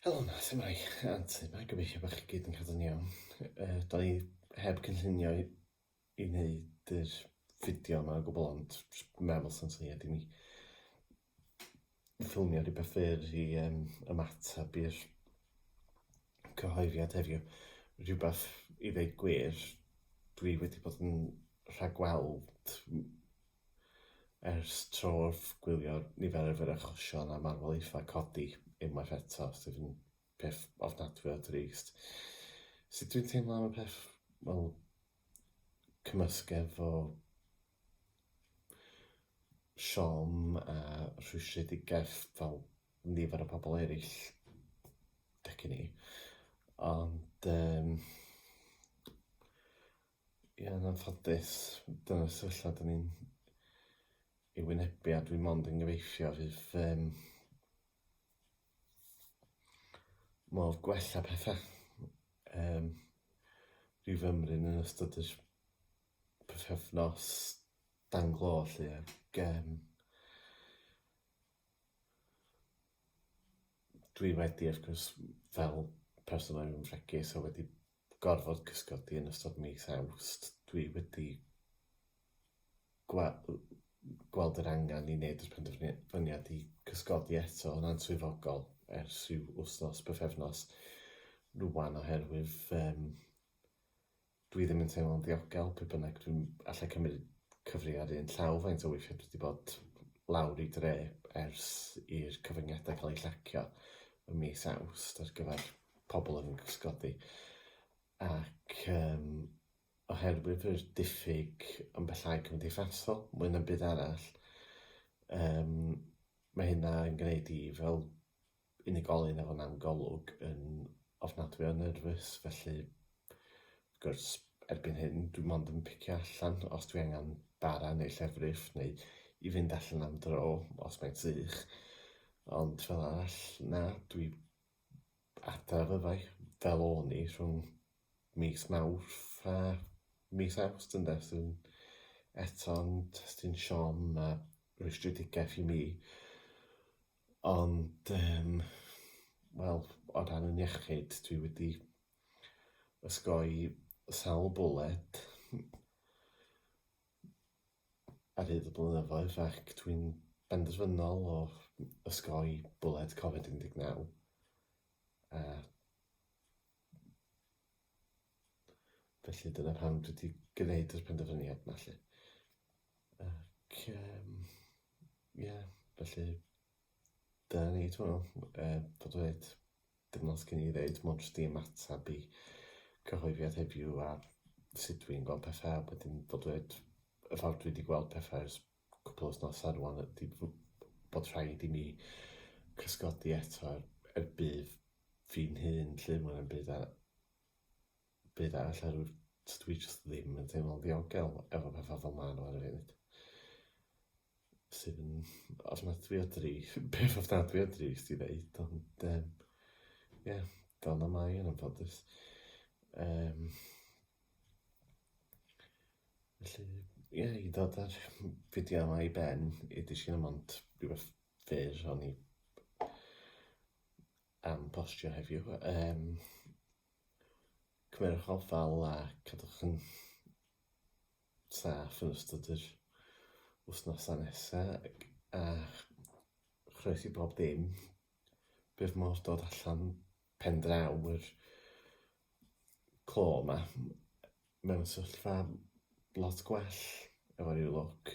Helo 'na, su' mae? Antur 'ma, gobeithio bo' chi gyd yn cadw'n iawn. Yy, 'dan ni heb cynllunio i i neud yr fideo 'ma o gwbwl ond js- meddwl sa'n syniad i mi ffilmio rwbeth fyr i yym ymatab i'r cyhoeddiad heddiw. Rhywbeth i ddeud gwir, dwi wedi bod yn rhagweld m- Ers tro wrth gwylio niferoedd yr achosion a marwolaethau codi unwaith eto, sydd yn peth ofnadwy o drist. Sut dwi'n teimlo am y peth? Wel, cymysgedd o siom a rhwystredigaeth fel nifer o pobl eraill deg i ni. Ond yym Ie yn anffodus dyna'r sefyllfa dyn ni'n ei wynebu a dwi mond yn gyfeifio fydd yym modd gwella petha yym rhyw fymryn yn ystod yr pythefnos dan glo 'lly ag yym dwi wedi wrth gwrs fel person odd yn fregus a wedi gorfod cysgodi yn ystod mis Awst, dwi wedi gwe- gweld yr angen i wneud yr penderfyniad i cysgodi eto yn answyddogol ers rhyw wythnos, bythefnos rwan oherwydd um, dwi ddim yn teimlo'n ddiogel pe bynnag dwi'n allai cymryd cyfri ar un llaw faint o weithiau dwi wedi bod lawr i dre ers i'r cyfyngiadau cael eu llacio ym mis Awst ar gyfer pobl yn fy gysgodi ac um, oherwydd yr diffyg yn bellhau cymdeithasol, mwy na'n byd arall, um, mae hynna yn gwneud i fel unigolyn efo nawn golwg yn ofnadwy o nerfus, felly wrth gwrs erbyn hyn dwi mond yn picio allan os dwi angen bara neu llefrif neu i fynd allan am dro os mae'n sych, ond fel arall na, dwi Adar fyddai, fel o'n i, rhwng mis Mawrth a mis Awst ynde, sy'n eto'n testun siom a rwystredigaeth i mi. Ond yym wel, o dan yn iechyd, dwi wedi osgoi sawl bwled. ar hyd y blynyddoedd ac dwi'n benderfynol o ysgoi bwled Covid 19 a felly dyna pam dwi wedi gwneud yr penderfyniad 'ma 'lly ac yym ie felly Dyna ni, dwi'n meddwl, e, bod dweud, dim lot gen i ddeud, mond jyst i ymateb i cyhoeddiad heddiw a sut dwi'n gweld pethau, wedyn bod dweud, y ffordd dwi wedi gweld pethau ers cwpl o wythnosau rwan ydy fo- bod rhaid i mi cysgodi eto er, er budd fi'n hun 'lly, ma' hwnna'n budd a Beth arall ar yw'r... Dw i jyst ddim yn teimlo'n ddiogel efo pethau fel ma' nhw ar y funud. Sydd yn ofnadwy o drist. Peth ofnadwy o drist i ddeud ond yym ie fel 'na mae yn anffodus. Yym. Felly ie i ddod a'r fideo 'ma i ben, 'yd i shimod rhywbeth fyr o'n i am postio heddiw. Um, cymerwch ofal a cadwch yn saff yn ystod yr wythnosau nesaf a chroes i bob dim. Bydd modd dod allan pen draw yr clo yma mewn sylfa lot gwell efo rhyw lwc.